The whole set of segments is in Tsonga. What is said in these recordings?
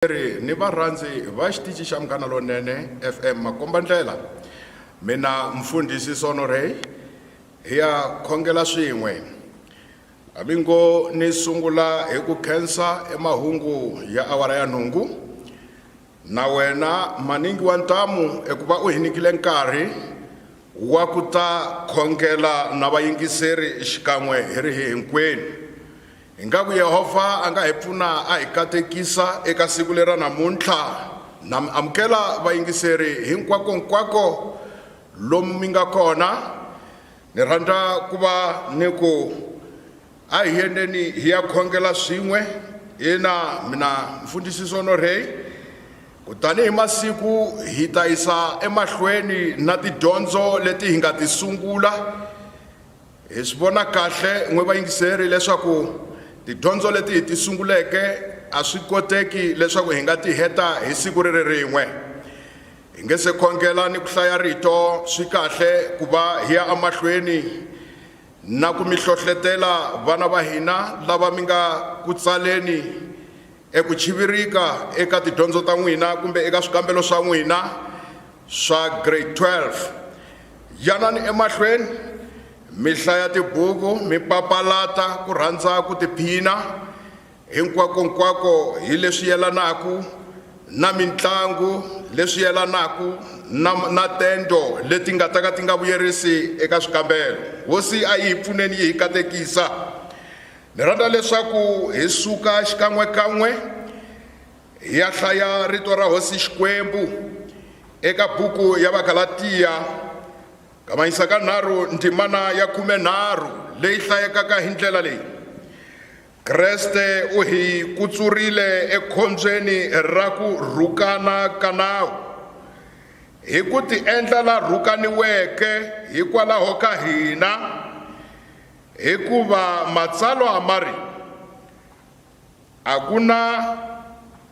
Vayingiseri ni varhandzi va xitici xa Munghana Lonene FM makombandlela, mina mfundhisi Sono Ray hi ya khongela swin'we. Hambi ngo ni sungula hi ku khensa emahungu ya awara ya nhungu, na wena maningi wa ntamu eku va u hi nyikile nkarhi wa ku ta khongela na vayingiseri xikan'we hi ri hinkwenu. Ingaku Yehovha a nga hi pfuna a hi katekisa eka siku leri ra namuntlha. Na mi amukela vayingiseri hinkwako-nkwako lomu mi nga kona. Ni rhandza ku va ni ku a hi yendeni hi ya khongela swin'we ina mina mfundhisi Sonorhey kutani hi masiku hi ta yisa emahlweni na tidyondzo leti hi nga ti sungula. Hi swi vona kahle n'we vayingiseri leswaku tidyondzo leti hi ti sunguleke a swi koteki leswaku hi nga ti heta hi siku ri ri rin'we. Hi nge se khongela ni ku hlaya Rito, swi kahle ku va hi ya emahlweni na ku mi hlohletela vana va hina lava mi nga ku tsaleni Eku chivirika eka tidyondzo ta n'wina kumbe eka swikambelo swa n'wina swa Grade 12. Yanani emahlweni mi hlaya tibuku mi papalata ku rhandza ku tiphina hinkwakonkwako hi leswi yelanaka na mintlangu, leswi yelanaka na, na tento leti nga ta ka ti nga vuyerisi eka swikambelo. Hosi a yi hi pfuneni yi hi katekisa. Ni rhandza leswaku hi suka xikan'we-kan'we hi ya hlaya rito ra Hosi Xikwembu eka buku ya Vagalatiya, kavanyisa ka nharhu ndzimana ya khume-nharhu leyi hlayekaka hi ndlela leyi, Kreste u hi kutsurile ekhombyeni ra ku rhukana ka nawu, hi ku tiendla la rhukaniweke hikwalaho ka hina, Hikuva Matsalwa ma ri, A ku na,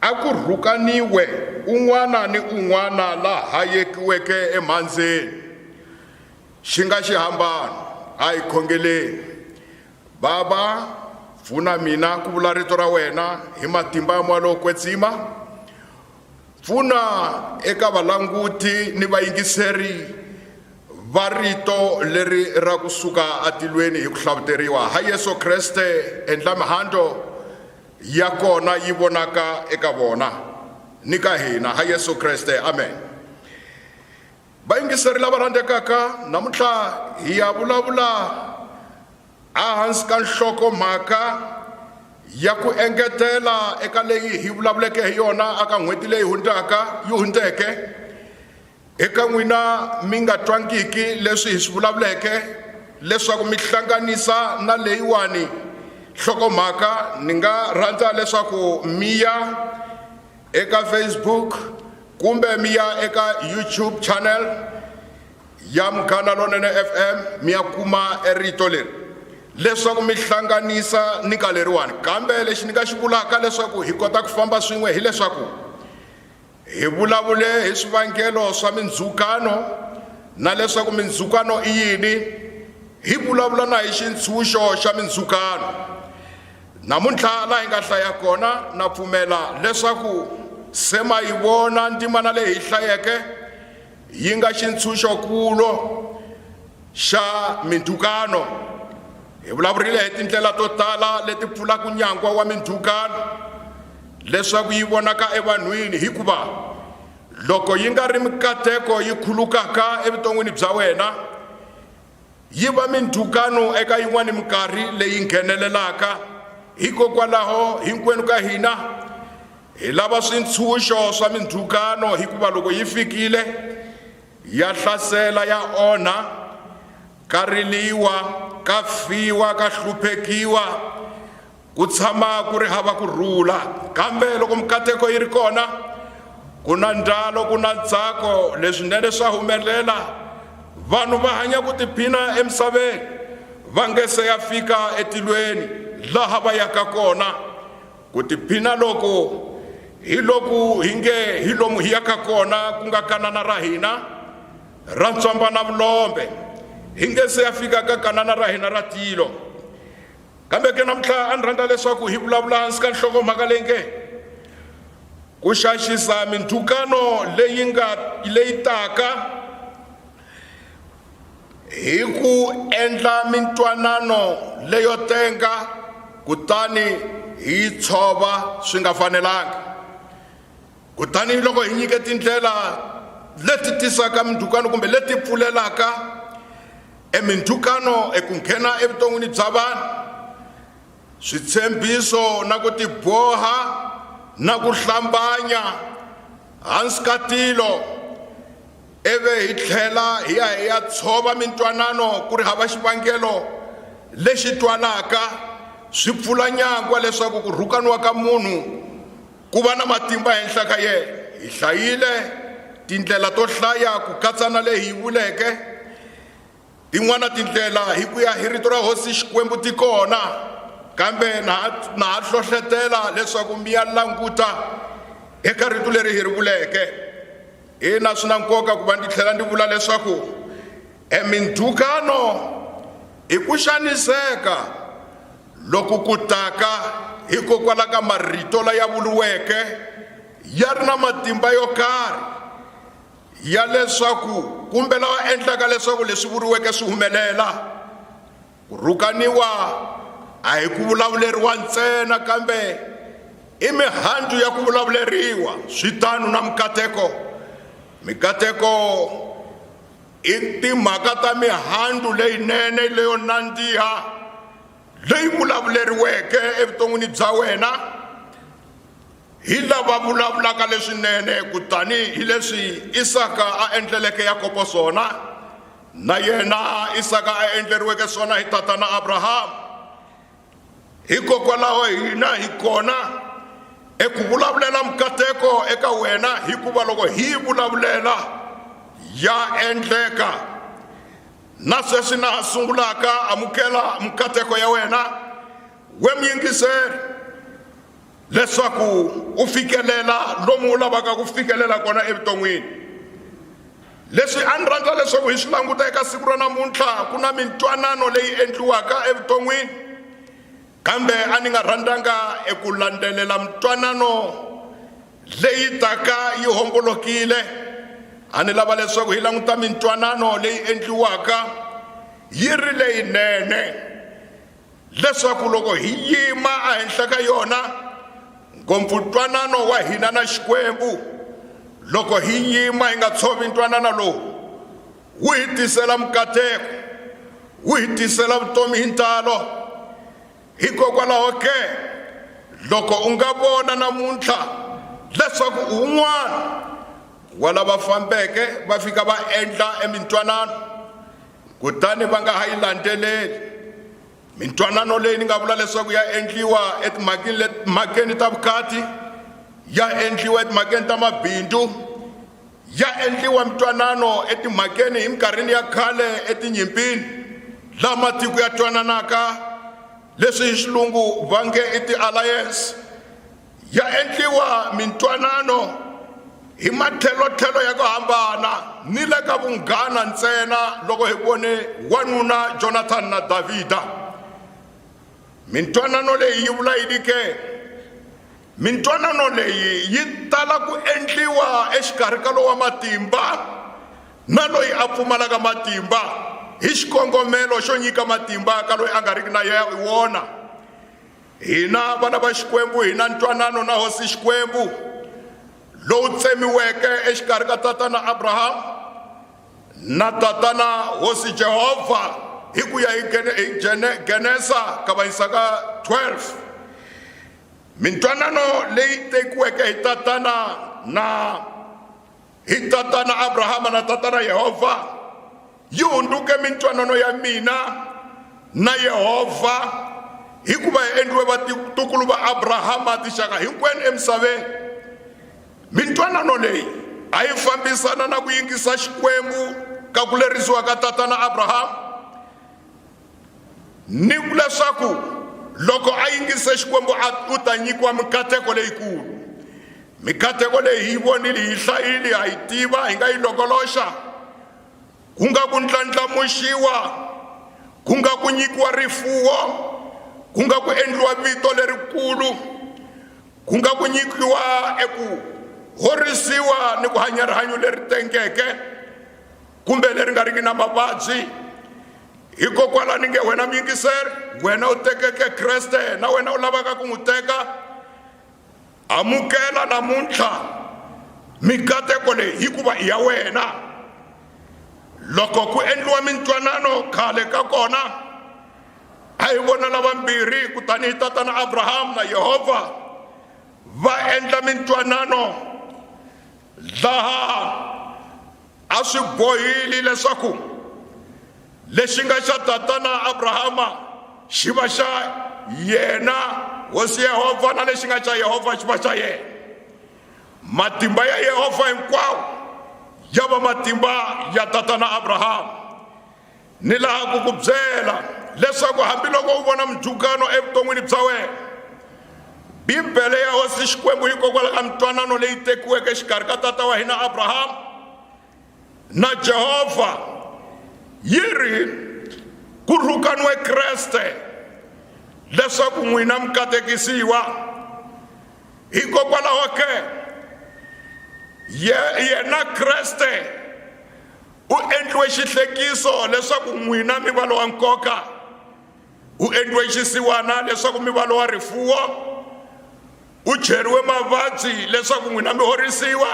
a ku rhukaniwe un'wana ni un'wana la hayekiweke emhandzeni, xi nga xihambano, a hi khongeleni. Bava, pfuna mina ku vula rito ra wena hi matimba mo lo kwetsima, pfuna eka valanguti ni vayingiseri va rito leri ra ku suka atilweni hi ku hlavuteriwa ha yesu kreste endla mihandlo ya kona yi vonaka eka vona ni ka hina ha yesu kreste amen vayingiseri lava rhandzekaka namuntlha hi ya vulavula Ehansi ka nhloko-mhaka ya ku engetela eka leyi hi vulavuleke hi yona eka n'hweti leyi hundzeke, eka n'wina mi nga twangiki leswi hi swi vulavuleke leswaku mi hlanganisa na leyiwani nhloko-mhaka, ni nga rhandza leswaku mi ya eka Facebook kumbe mi ya eka YouTube channel ya Munghana Lonene FM mi ya kuma rito leri leswaku mi hlanganisa ni ka leriwani kambe lexi ni nga xi vulaka leswaku hi kota ku famba swin'we hileswaku hi vulavule hi swivangelo swa mindzhukano na leswaku mindzhukano i yini hi vulavula na hi xintshunxo xa mindzhukano namuntlha laha hi nga hlaya kona na pfumela leswaku se ma yi vona ndzimana leyi hi hlayeke yi nga xintshunxo-kulo xa mindzhukano. Hi vulavurile hi tindlela to tala leti pfulaka nyangwa wa mindzhukano leswaku yi vonaka evanhwini hikuva loko yi nga ri mikateko yi khulukaka evuton'wini bya wena yi va mindzhukano eka yin'wana minkarhi leyi nghenelelaka hikokwalaho hinkwenu ka hina hi lava swintshunxo swa mindzhukano hikuva loko yi fikile ya hlasela ya onha ka riliwa ka fiwa ka hluphekiwa Ku tshama ku ri hava ku rhula, kambe loko mikateko yi ri kona, ku na ndlalo, ku na ntsako, leswinene swa humelela. Vanhu va hanya ku tiphina emisaveni va nge se ya fika etilweni laha va yaka kona. Ku tiphina loku hi loku hi nge hi lomu hi yaka kona ku nga Kanana ra hina ra ntswamba na vulombe, hi nge se ya fika ka Kanana ra hina ra tilo. Kambe ke namuntlha a ni rhandza leswaku hi vulavula hansi ka nhlokomhaka leyi nge ku xaxisa mindzhukano leyi nga leyi taka hi ku endla mintwanano leyo tenga kutani hi yi tshova swi nga fanelanga kutani loko hi nyike tindlela leti tisaka mindzhukano kumbe leti pfulelaka emindzhukano eku nghena evuton'wini bya vanhu switshembiso na ku tiboha na ku hlambanya hansi ka tilo ivi hi tlhela hi ya hi ya tshova mintwanano ku ri hava xivangelo lexi twalaka swi pfula nyangwa leswaku ku rhukaniwa ka munhu Ku va na matimba henhla ka yena. Hi hlayile tindlela to hlaya ku katsa na leyi hi vuleke tin'wana tindlela hi ku ya hi Rito ra Hosi Xikwembu ti kona, kambe na ha na ha hlohletela leswaku mi ya languta eka Rito leri hi ri vuleke. Ina, swi na nkoka ku va ndzi tlhela ndzi vula leswaku. E mindzhukano i ku xaniseka loku ku taka hikokwala ka marito laya vuriweke ya ri na matimba yo karhi ya leswaku kumbe lawa endlaka leswaku leswi vuriweke swi humelela ku rhukaniwa a hi ku vulavuleriwa ntsena kambe i mihandzu ya ku vulavuleriwa swi tano na mikateko mikateko i timhaka ta mihandzu leyinene leyo nandziha leyi vulavuleriweke evuton'wini bya wena hi lava vulavulaka leswinene kutani hi leswi isaka a endleleke yakobo swona na yena isaka a endleriweke swona hi tatana abrahama hikokwalaho hina hi kona eku vulavulela mukateko eka wena hikuva loko hi vulavulela ya endleka na sweswi na ha sungulaka amukela mukateko ya wena we muyingiseri leswaku u fikelela lomu u lavaka ku fikelela kona evuton'wini leswi a ni rhandza leswaku hi swi languta eka siku ra namuntlha ku na mintwanano leyi endliwaka evuton'wini kambe a ni nga rhandzanga eku landzelela mintwanano leyi taka yi hombolokile a ni lava leswaku hi languta mintwanano leyi endliwaka yi ri leyinene leswaku loko hi yima ehenhla ka yona ngopfu ntwanano wa hina na xikwembu loko hi yima hi nga tshovi ntwanano lowu wu hi tisela mukateko wu hi tisela vutomi hi ntalo hikokwalaho ke loko u nga vona namuntlha leswaku un'wana wa lava fambeke va fika va endla emintwanano kutani va nga ha yi landzeleli mintwanano leyi ni nga vula leswaku ya endliwa etimhakeni ta vukati ya endliwa etimhakeni ta mabindzu ya endliwa mintwanano etimhakeni hi minkarhini ya khale etinyimpini laha matiko ya twananaka leswi hi xilungu va nge i ti-alliance ya endliwa mintwanano hi matlhelotlhelo ya ku hambana ni le ka vunghana ntsena loko hi vone wanuna jonathani na davhida mintwanano leyi yi vula yini ke mintwanano leyi yi tala ku endliwa exikarhi ka lowa matimba na loyi a pfumalaka matimba hi xikongomelo xo nyika matimba ka loyi a nga riki na wona Hina vana va Xikwembu hi na ntwanano na Hosi Xikwembu lowu tsemiweke exikarhi ka tatana Abrahamu na tatana Hosi Jehovha hi ku ya hi Genesa ka vayisaka 12 mintwanano leyi tekiweke hi tatana na hi tatana abrahama na tatana yehovha yi hundzuke mintwanano ya mina na yehovha hikuva hi endliwe vatukulu va abrahama tinxaka hinkwenu emisaveni mintwanano leyi a yi fambisana na ku yingisa xikwembu ka ku lerisiwa ka tatana abrahama ni ku leswaku loko a yingise xikwembu u ta nyikiwa mikateko leyikulu mikateko leyi hi yi vonile hi hlayili ha yi tiva hi nga yi longoloxa ku nga ku ndlandlamuxiwa ku nga ku nyikiwa rifuwo ku nga ku endliwa vito lerikulu ku nga ku nyikiwa eku horisiwa ni ku hanya rihanyo leri tengeke kumbe leri nga riki na mavabyi hikokwalaho ni nge wena muyingiseri wena u tekeke kreste na wena u lavaka ku n'wi teka amukela namuntlha mikateko leyi hikuva i ya wena loko ku endliwa mintwanano khale ka kona a hi vona lavambirhi kutani hi tatana abrahamu na yehovha va endla mintwanano laha a swi bohile leswaku lexi nga xa tatana abrahama xi va xa yena hosi yehovha na lexi nga xa yehovha xi va xa yena matimba ya yehovha hinkwawo ya va matimba ya tatana abrahama Ni lava ku ku byela leswaku hambiloko u vona mujukano evuton'wini bya wena, Bibele ya Hosi Xikwembu yi kokwala ka mintwanano leyi tekiweke exikarhi ka tata wa hina Abrahama na Jehovha yi ri, Ku rhukaniwe Kreste leswaku n'wina mi katekisiwa. Hikokwalaho ke, yena Kreste, u endliwe xihlekiso leswaku n'wina mi va lowa nkoka u endliwe xisiwana leswaku mi va lowa rifuwo u cheriwe mavabyi leswaku n'wina mi horisiwa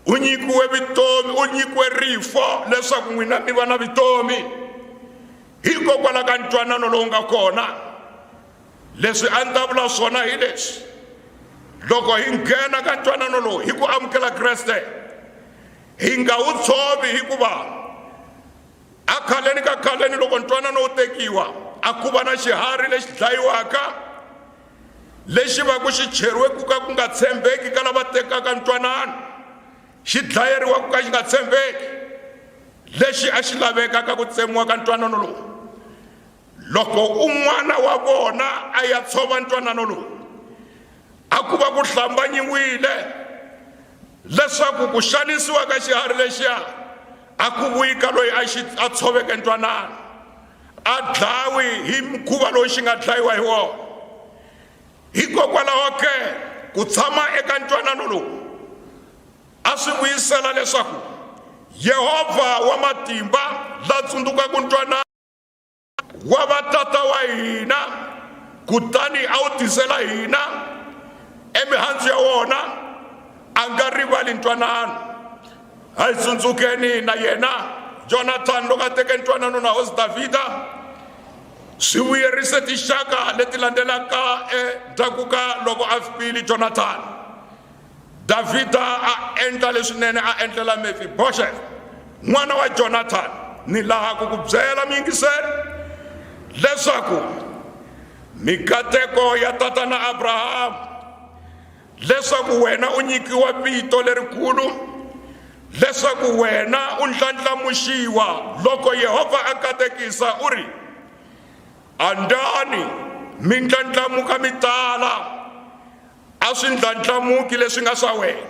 u nyikiwe vutomi u nyikiwe rifo leswaku n'wina mi va na vutomi hikokwalaho ka ntwanano lowu nga kona Leswi a ni ta vula swona hi leswi, loko hi nghena ka ntwanano lowu hi ku amukela Kreste, hi nga wu tshovi hikuva a khaleni ka khaleni loko ntwanano wu tekiwa a ku va na xiharhi lexi dlayiwaka lexi va ku xi cheriwe ku ka ku nga tshembeki ka lava tekaka ntwanano xi dlayeriwa ku ka xi nga tshembeki lexi a xi lavekaka ku tsemiwa ka ntwanano lowu loko un'wana wa vona a ya tshova ntwanano lowu a ku va ku hlambanyiwile leswaku ku xanisiwa ka xiharhi lexiya a ku vuyi ka loyi a xi a tshoveke ntwanano a dlawi hi mukhuva lowu xi nga dlayiwa hi wona hikokwalaho ke ku tshama eka ntwanano lowu a swi vuyisela leswaku yehovha wa matimba la tsundzukaka ntwanano wa va tata wa hina kutani a wu tisela hina emihandzu ya wona a nga rivali ntwanano a hi tsundzukeni na yena jonathani loko a teke ntwanano na hosi davhida swi vuyerise tinxaka leti landzelaka endzhaku ka loko a fikile jonathani Davhida a endla leswinene a endlela Mefibosheth n'wana wa Jonathani ni laha ku ku byela miyingiseri leswaku mikateko ya tatana Abrahamu leswaku wena u nyikiwa vito lerikulu leswaku wena u ndlandlamuxiwa loko Yehovha a katekisa u ri andani mi ndlandlamuka mi tala a swi ndlandlamuki leswi nga swa wena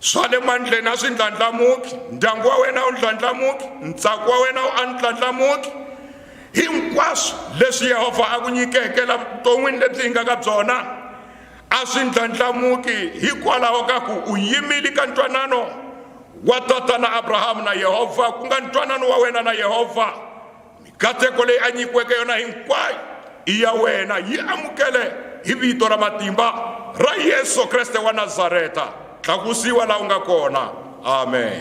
swa le mandleni a swi ndlandlamuki ndyangu wa wena wu ndlandlamuki ntsako wa wena wu a ndlandlamuki hinkwaswo leswi yehovha a ku nyikeke la vuton'wini lebyi hi nga ka byona a swi ndlandlamuki hikwalaho ka ku u yimile ka ntwanano wa tatana abrahamu na yehovha ku nga ntwanano wa wena na yehovha Mikateko leyi a nyikiweke yona hinkwayo i ya wena, yi amukele hi vito ra matimba ra Yesu Kreste wa Nazareta. Tlakusiwa laha u nga kona. Amen.